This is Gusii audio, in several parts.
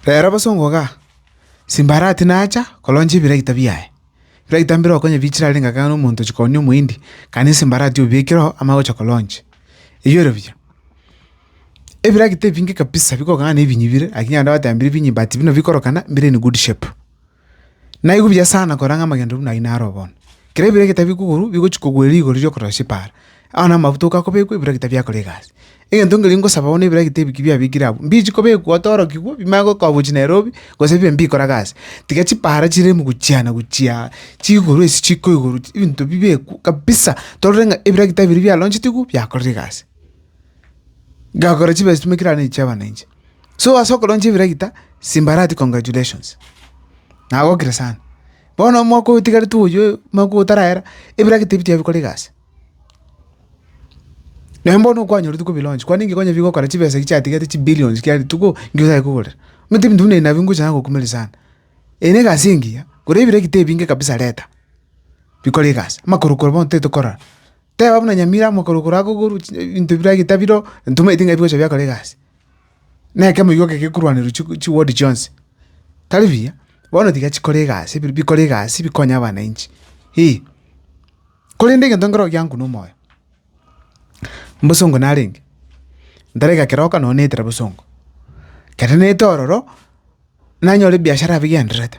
Reero bosa ongogaa, Simbarati nacha koroncha ebiraita biaye. Ebiraita mbireo konya biichire arenge akang'ana omonto ochia koonia omohindi, gaki nesimbarati obiekireo amo agocha koroncha. Eyio ere buya. Ebiragita ebinge kabisa bikogana na ebinyibire, lakini abanto batebirie ebinyi but buna bikorokana mbire in good shape. Naigwe buya sana kora ng'a amagendo buna ayio naro bono. Kera ebiira egete bikokorwa bigochia kogwera rigori riria okorora chipaara, ao namabuta okakobekwa ebiira gete biakora egasi. Egento nkeria ngosaba bono ebiira gete ebi ki biabekire abwo, mbichi kobekwa otorokigwe bimanye gokoa gochia Nairobi, gose bibe mbikora gasi. Tiga chipaara chire ime gochia na gochia, chigoro ase chiko igoro chi ebinto bibekwe kabisa, torore ng'a ebiira gete ebiria biaronchetigwe biakorire egasi. Gakora chibesa chimwe kera ne chiabananchi. So ase okoroncha ebiragita, simbarati congratulations, nagokire sana. Bono omwaka oyo otigarete oyoo, omwaka oyo otarahera, ebiragita ebi tibikora egasi. Naende bono okwanyorete kobi launch, kwani inki kwanyara gokora chibesa echi chiatigete chi billions kia rituko, inki ochaka kogorera? Omanyete ebinto buna ebi nabio ngocha nagokumeria sana. Eye ne egasi engiya, gora ebiragita ebinge kabisa reta, bikore egasi, amakorokoro bono titokora. Teba buna nyamira amokorokoro agogorwe ebinto biragete biro ntomaeti ng'a bigocha biakora egasi. Nekemo igo gekorwanerwa chi chi ward chionsi. Tari buya, bono tiga chikore egasi bi- bikore egasi bikonye abanainchi eh. Korende egento nkero gianku na omoyo, mbosongo narenge, ntarega keroka nonye naetera bosongo, kere naete ororo, nanyore ebiashara bigendererete.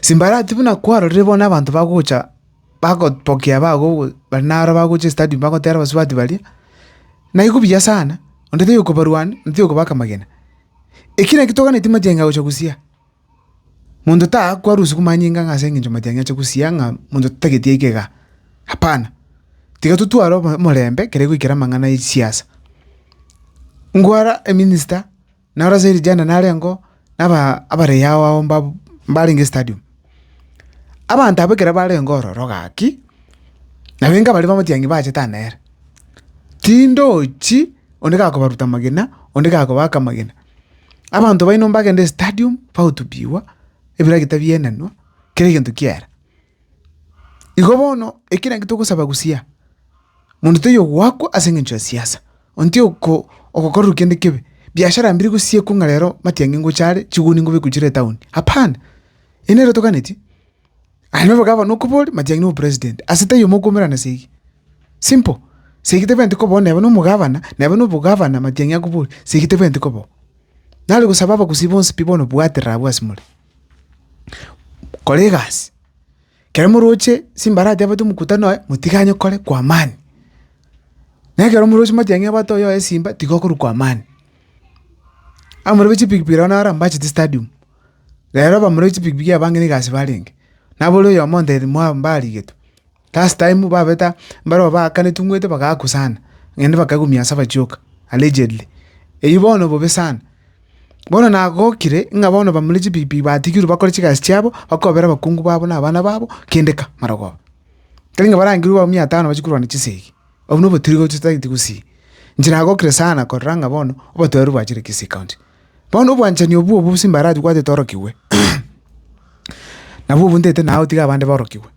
Simbarati buna kwarorire bono abanto bagocha bagopokea bago bari naro bagocha estadium bagotera abasubati baria, Naigwe buya sana, onde toyokobarwania, onde toyokobaka amagena. Eki naki toganetie matiang'i agocha gosiaa. Monto taaku arusiwu manyinga ng'a ase eng'encho matiang'i ache gosiaa ng'a monto totageti aike igaa, hapana. Tiga totware obo omorembe kere goikera amang'ana ya chisiasa. Ngwara eminista. Na ore ase eri rianda narengeo abarei ao ao mbarenge estadium. Abanto abwo ekero barenge ororo gaki, nabaito baria bamatianyi bachete aa nere. Tindochi onde gakobaruta amagena, onde gakobaka amagena. Abanto baino mbagende estadium bagotubiwa, ebiragita bienenwa, kera egento kiera. Igo bono ekero ekio togosaba gosiya, monto toyogoakwa ase engencho ya siasa, onye tiyoko ogokorerwa kende kebe, biashara mbiri gosiekwa ng'a rero matiang'i ngocha are, chiguni ngobekwe chire etaoni, hapana! Eyi nere toganeti, aye na obogavana okobore, matiang'i na obopresident, ase taiyo mokomerana segi, simple, segi tebwenereti koba oo neba na omogavana, neba na obogavana matiang'i akobore, segi tebwenereti koba oo. Nare gosaba abagusii bonsi pi bono bwaterere abwo ase more. kora egasi, ekero moroche simbara atebete omokutano oye, motiganye kore kwa amani. Na ekero moroche motiga ng'a ebwato oyoye simba, tiga okorwa kwa amani. Abarobi chipikipiki nabo naro mbachete stadium, rero abarobi chipikipiki abange na egasi barenge, nabore oyomo ontebia mwa mbarigetwe. Last time babeta mbarabwo baakaneti ng'wete bagakwa sana, naende bakagwa mwansa bachioka, allegedly. Eyio bono bobe sana. Bono nagokire ng'a bono bamura chipikipiki batigirwe bakore chigasi chiabo, bakobera abakungu babo na abana babo kende ka, marogoba. Tari ng'a barangire bwa mia tano bachie korwana chisegi, obwo na obotiiri gochia otagete gusii. Inche nagokire sana korora ng'a bono obotoeru bwachire Kisii County. Bono obwanchani obwo obwo bosio mbaratwatete orokigwe, nabwo obwo ntete naye gotiga abande borokigwe.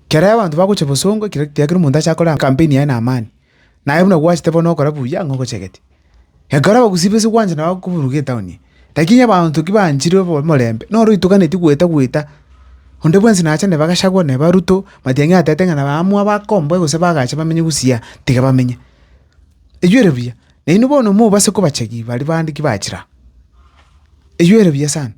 Kera abanto bagocha bosongo ekero ekiagera kera omonto acha akore campaign yaye na amani, naye buna gwachete bono ogokora buya ng'a ogochegete. Ekero abagusii base gwanchana bago koburuka etown eye, lakini abanto ki banchire obo omorembe, noro oitoganeti gweta gweta, onde bwensi nacha neba gachagua neba ruto, matiang'i atete ng'a naba aamua bakomboe gose bagache bamenye gusii aa, tiga bamenye. Enyuere buya, nainwe bono mobase kobachegi baria bande ki bachira. Enyuere buya sana.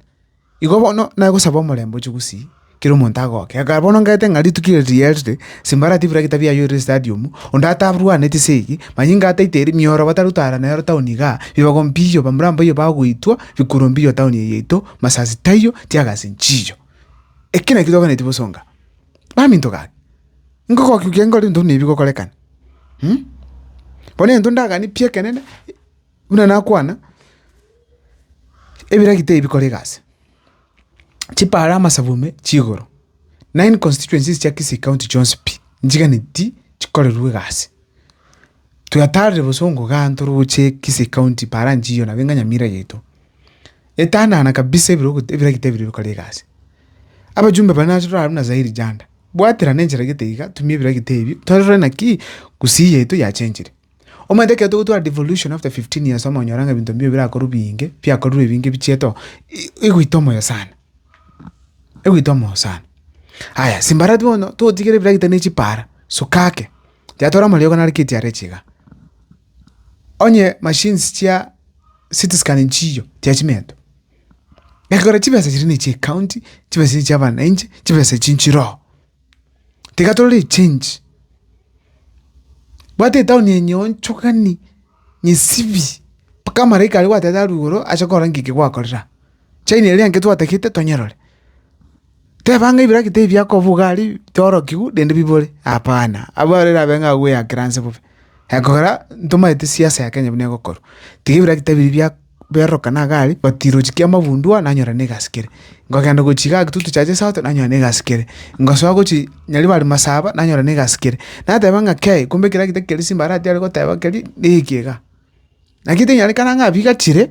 Igo bono nagosaba omorembe oche gosii, kera omonto agoke. Ekero bono ngete ng'a rituko ere rierire, simbarati buna egitabu yaye ore estadium, onde atarwaneti ase eye, manyinga inga ataete eri, mioro batarutara nero town igaa, bibago mbiyo, bamura mboyo bagoitwa, bikuro mbiyo town eye yaito, masasi taiyo, teargas nchiyo. Eki nakio tokwenereti bosonga. Baminto gaki. Ngogokia okia nkore intwe buna ebi bigokorekana. Bono egento ndaganie pi ekenene, buna nakwana, ebiragi tebikora egasi. Chipara amasabu me chigoro, nine constituencies chia Kisii county chionsi pi, nchiganeti chikorerwe egasi. Twatarire bosongo igaa ntoroche Kisii county para nchiyo nabo enga Nyamira yaito. Etanana kabisa ebiro ebiragi tebiri bikore egasi. Abajumbe bare nase torarwa buna Zairi Janda. Bwaterana enchera gete iga, tumia ebira gete ebio, torore naki gusii yaito yachenchire. Omanyete ekero togotwara devolution after 15 years omo onyore ng'a ebinto mbio birakorwa binge, biakorire ebinge bichiete oo, egoita omoyo sana, egoita omoyo sana. Aya, simbarati bono, togotigera ebira gete ne chipara, sukake, tiga tore amariogo nare KTRH iga. Onye machines chia city scan nchiyo, tiga chimento. Gekogera chibesa chiria ne chi'ecounty, chibesa echi chi'abanainche, chibesa echi nchirogo. Tiga tore echange, bwata etown yenyu onchokani, nyesibi, mpaka amalaika aria gwatete arwe igoro ache korora ng'iki gwakorera. China eria naki twatagete tonyerore. Teba ng'a ebira gete ebi biakobuga are biorokigu rende bibore, hapana, abwo aro erabe ng'a agweyakire anse bobe. Ekogera ntomaete siasa ya Kenya buna egokorwa, tiga ebira gete ebi bia biarorokana iga are but rirochio kia amabundu aa nanyora na egasi kere. Nkogenda gochia igaa Kitutu Churches South nanyora na egasi kere, nkosoa gochia Nyaribari Masaba nanyora na egasi kere. Nateba ng'a kei, kumbe ekero gete keria simba aratiare goteba keria na eke igaa. Naki tinyarekana ng'a abiga chire,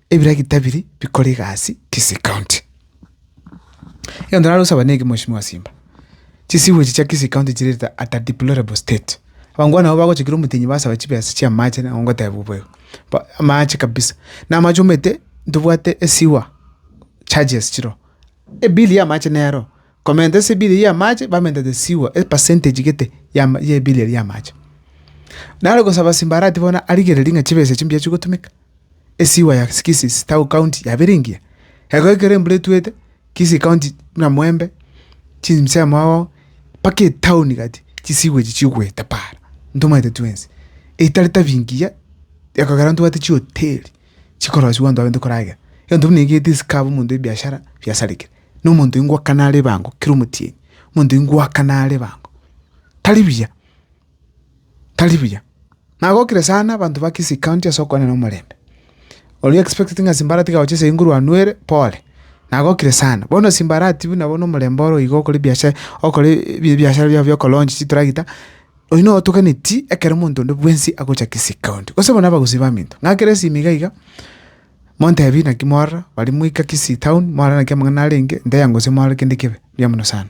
Ebiragita biri bikore egasi Kisii County. Egento nare gosaba neke Mweshimiwa Simba, chisewage chia Kisii County chirerete at a deplorable state. Abange bono nabo bagochikire omotenyi basaba chibesa chia amache nabo ngotebwa bo igo. Ba- amache kabisa. Na amache omanyete ntobwate esewer charges chire oo. Ebill ya amache nero Komenta esibiri y'amache bamentete sigwa epercentage gete y'ebiri eria y'amache. Nare gosaba simbarati bono arigereria ng'a chibesa echio mbuya chigotumeka, esigwa ya Kisii town county yabire engiya. Ekero ekero embura etwete, Kisii county buna Mwembe, chimsemo agwo, mpaka etown gati, chisigwa echi chigoeta paara, ntomanyete twensi. Etari tabi engiya, ekogera ntobwate chihoteli, chikorosiwa abanto baye ntokoragera. Egento buna eke getisika omonto ebiashara biasarekire. nomonto ingwakana are ebango kera omotienyi, omonto ingwakana are ebango tari buya, tari buya. Nagokire sana abanto ba Kisii county ase okogania na omorembe. Oria expecteti ng'a Simba aratiga gocha ase Inguru anwere, pole, nagokire sana. Bono Simba aratibu buna bono omorembe oro iga okore ebiasha okore ebiachara biao bia oko launch chitragita, oyio noo otogeneti ekero omonto onde bwensi agocha Kisii county. Gose buna abagusii baminto, ng'a kera esimi iga iga. Montebi naki mwarora, baria moika Kisii town, mwarora naki amang'ana arenge, ndeya gose mwarora kende kebe. Mbuya mono sana.